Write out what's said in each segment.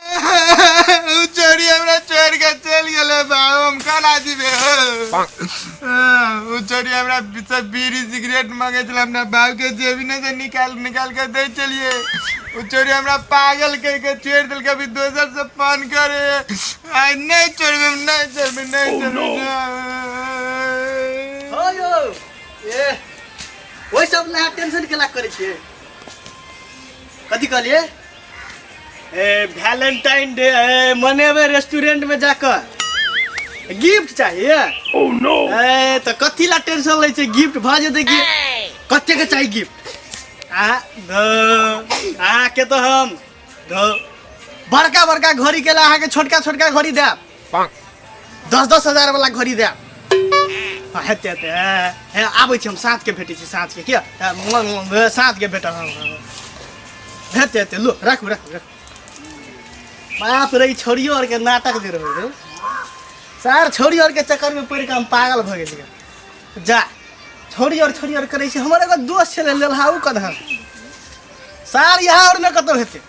उ चोरी हमरा चोर के चल गेले बा हम कला दिबे उ चोरी हमरा बिचा बीड़ी सिगरेट मांगे छला हमरा बाप के जेबी ने से निकाल निकाल के दे चलिए उ चोरी हमरा पागल कह के छेड़ दिल के अभी दोसर से पान करे आई नहीं चोरबे नहीं चोरबे नहीं चोरबे हो यौ ए ओहि सब लए टेंशन केला करै छियै कथी कहलिए ए वैलेंटाइन डे है मनेबे रेस्टोरेंट में जाकर गिफ्ट चाहिए ओह oh, नो ए तो कथी ला टेंशन ले छे गिफ्ट भ जेते कि कते के चाहिए गिफ्ट आ द आ के तो हम द बड़का बड़का घड़ी के ला के छोटका छोटका घड़ी देब दस दस हजार वाला घड़ी दे हेते हेते हे आबै छी हम साँझ के भेटै छी साँझ के किया तऽ म- म- म- साँझ के भेटब हम हेते हेते लो राखू राखू राखू बाप रे ई छोरियो आर के नाटक जे रहै रे सार छोरी आर के चक्कर में पड़ि कऽ हम पागल भऽ गेलियै जा छोरी आर छोरी आर करै छै हमर एगो दोस्त छलै लेलहा ओ कदहर सार यहाँ आर ने कतहु हेतै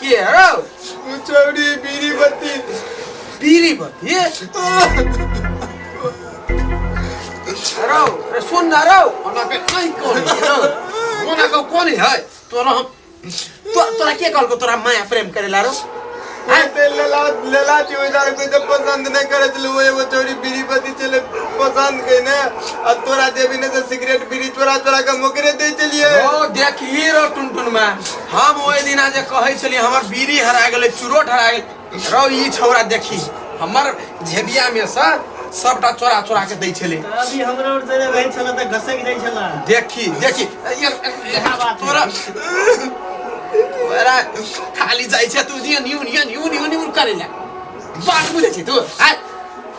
के हौ उ चौरी बीरी बत्ती बीरी बत्ती रौ रे सुन ना रौ ओना के नै कोनी रौ ओना के कोनी है तोरा हम तो तोरा के कहलको तोरा माया प्रेम करेला रौ हैं? ते लेला लेला छी ओइ दारू कोइ त पसंद नै करे छल ओ एगो चौरी बीरी बत्ती छले पसंद कै ने आ तोरा देबी ने त सिगरेट बीरी चोरा चोरा के मोकरे दै छलिए ओ देख ई रौ टुनटुन में हम ओहि दिना जे कहै छलियै हमर बीड़ी हरा गेलै चुरोट हरा गेलै रौ ई छौड़ा देखी हमर झेबिया में से सबटा चोरा चोरा के दै छलै अभी हमरा और जरे रहै छला त घसक जाइ छला देखी देखी ये- ये- बात है। तोरा तोरा खाली जाइ छै तू जे new new new new new करे ले बात बुझै छी तू आ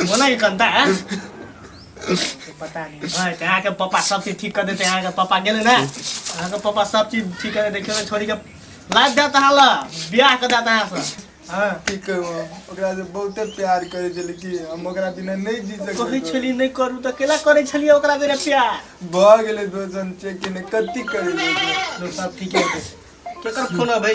बोला कि कंता है पता नहीं भाई ते आके पापा सब चीज ठीक कर देते हैं आके पापा गेले ना आके पापा सब चीज ठीक कर देते खेले छोड़ी के लाज देता है ला ब्याह कर देता है सब हां की कहू हम ओकरा से बहुते प्यार करे छली कि हम ओकरा बिना नहीं जी कहै सकै छली नहीं करू त केला करै छली ओकरा बिना प्यार भ गेलै दोसन चेक ने कति करे लो सब ठीक है केकर फोन है भाई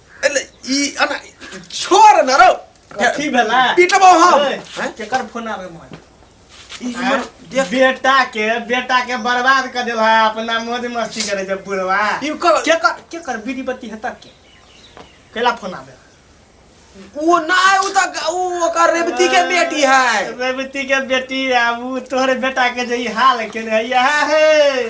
अरे ई अना छोड़ ना रो कथी भेला पीटबो हम ए, हैं? केकर फोन आवे मोबाइल ई आँय? हमर देख बेटा के बेटा के बर्बाद कर देला अपना मौज मस्ती करे जब बुढ़वा ई कर के कर के कर बीड़ी बत्ती है तक के कैला फोन आवे वो ना है, वो तो वो ओकर रेवती के बेटी है रेवती के बेटी आ ऊ तोहरे बेटा के जे ई हाल के यह है